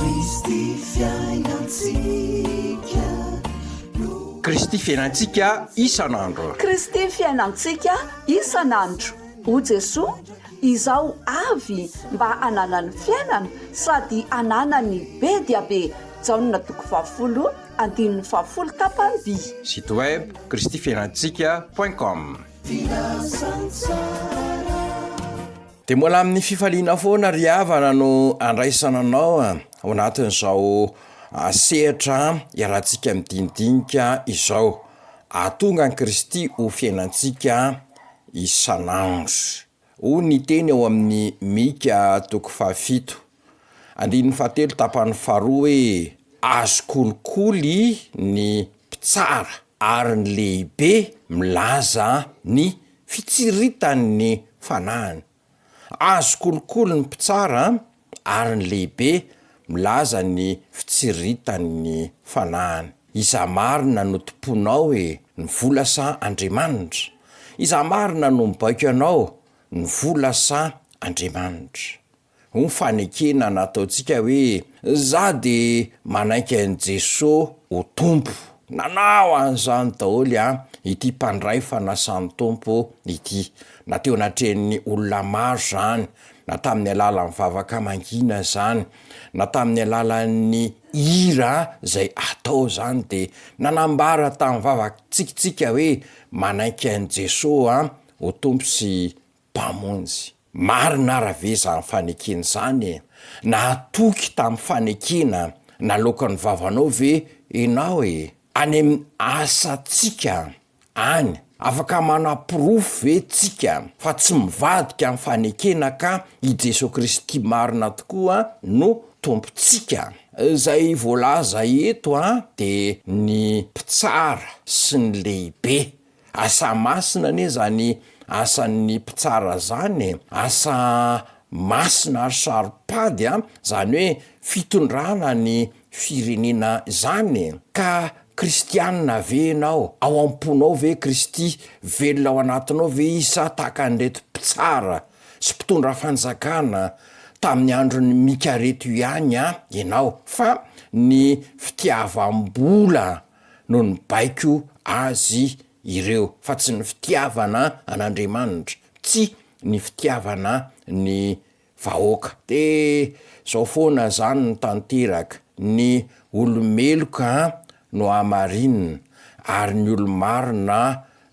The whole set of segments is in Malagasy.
Kristy fiainantsika no. Kristy fiainantsika isan'andro. Kristy fiainantsika isan'andro. O Jesoa, izaho avy mba hananany fiainana sady hananany be dia be. Jaona toko fahafolo andininy fahafolo tapany-by. Site web, kristyfiainantsika point com. Filazantsara. De mbola amin'ny fifaliana foana ry havana no andraisana anao ao anatin'izao sehatra iarahantsika midinidinika izao, ahatonga an'i Kristy ho fiainantsika isan'andro. Hoy ny teny ao amin'ny Mika toko fahafito. Andininy fahatelo tapany faharoa hoe azo kolikoly ny mpitsara ary ny lehibe milaza ny fitsiritan'ny fanahiny. Azo kolikoly ny mpitsara ary ny lehibe milaza ny fitsiritan'ny fanahiny. Iza marina no tomponao e, ny vola sa Andriamanitra? Iza marina no mibaiko anao, ny vola sa Andriamanitra? ho fanekena nataontsika hoe za de manaiky an'i Jeso ho Tompo. Nanao an'izany daholo an ity mpandray fanasan'ny Tompo ity, na teo anatrehan'ny olona maro zany, na tamin'ny alalan'ny vavaka mangina zany, na tamin'ny alalan'ny hira zay atao zany de nanambara tamin'ny vava tsikintsika hoe manaiky an'i Jeso an ho Tompo sy Mpamonjy. Marina ara ve izany fanekena izany e? Nahatoky tamin'ny fanekena naloakan'ny vavanao ve ianao e? Any amin'ny asantsika any, afaka manaporofo ve tsika fa tsy mivadika amin'ny fanekena ka i Jesoa Kristy marina tokoa no Tompontsika? Izay voalaza eto an dia ny mpitsara sy ny lehibe Asa masina anie zany asan'ny mpitsara zany e, asa masina ary saro-pady a, zany hoe fitondrana ny firenena zany e, ka kristianina ve enao, ao am-ponao ve Kristy, velona ao anatinao ve izy sa tahaka an'ireto mpitsara sy mpitondra fanjakana tamin'ny andron'i Mika reto ihany a enao, fa ny fitiavam-bola no nibaiko azy ireo fa tsy ny fitiavana an'Andriamanitra, tsy ny fitiavana ny vahoaka. Dia zao foana zany no tanteraka, ny olo-meloka no hamarinina ary ny olo-marina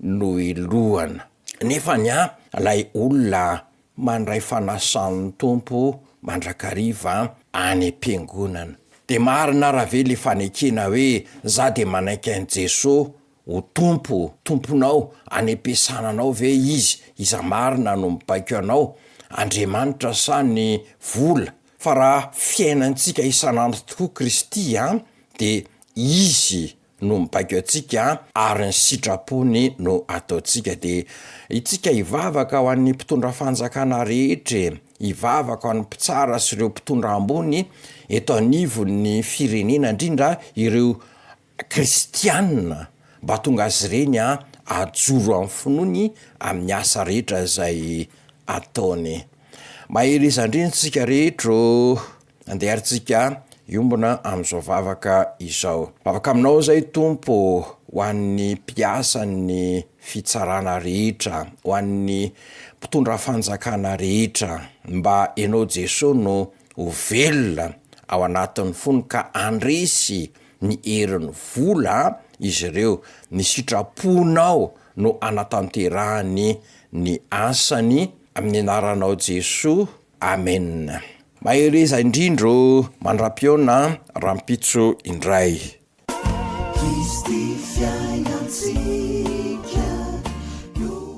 no hilohana. Nefany an, lay olona mandray fanasan'ny Tompo mandrakariva any am-piangonana. Dia marina ara ve le fanekena hoe za dia manaiky an'i Jeso ho Tompo, Tomponao, anempiasana anao ve izy, iza marina no mibaiko anao, Andriamanitra sa ny vola, fa raha fiainantsika isan'andro tokoa Kristy an, dia izy no mibaiko antsika ary ny sitrapony no ataontsika dia itsika hivavaka ho an'ny mpitondra fanjakana rehetra e, hivavaka ho an'ny mpitsara sy ireo mpitondra ambony eto anivon'ny firenena indrindra ireo kristianina mba tonga azy ireny hajoro amin'ny finoany amin'ny asa rehetra izay ataony. Mahereza indrindra tsika rehetra ô! Andeha ary tsika hiombona amin'izao vavaka izao. Vavaka aminao zay Tompo ho an'ny mpiasan'ny fitsarana rehetra, ho an'ny mpitondra fanjakana rehetra, mba enao Jeso no ho velona ao anatin'ny fony ka andresy ny herin'ny vola izy ireo, ny sitraponao no anatanterahany ny asany, amin'ny anaranao Jesoa Amen! Mahereza indrindra o! Mandram-pihaona rahampitso indray.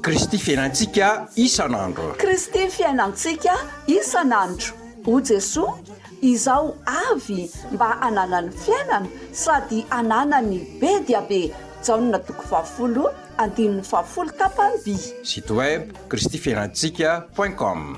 Kristy fiainantsika isan'andro. Kristy fiainantsika isan'andro. O Jesoa, izaho avy mba hanana ny fiainana sady hanana ny be dia be Jaona toko fahafolo Andininy fahafolo tapany vy. Site web kristifiainantsika point com.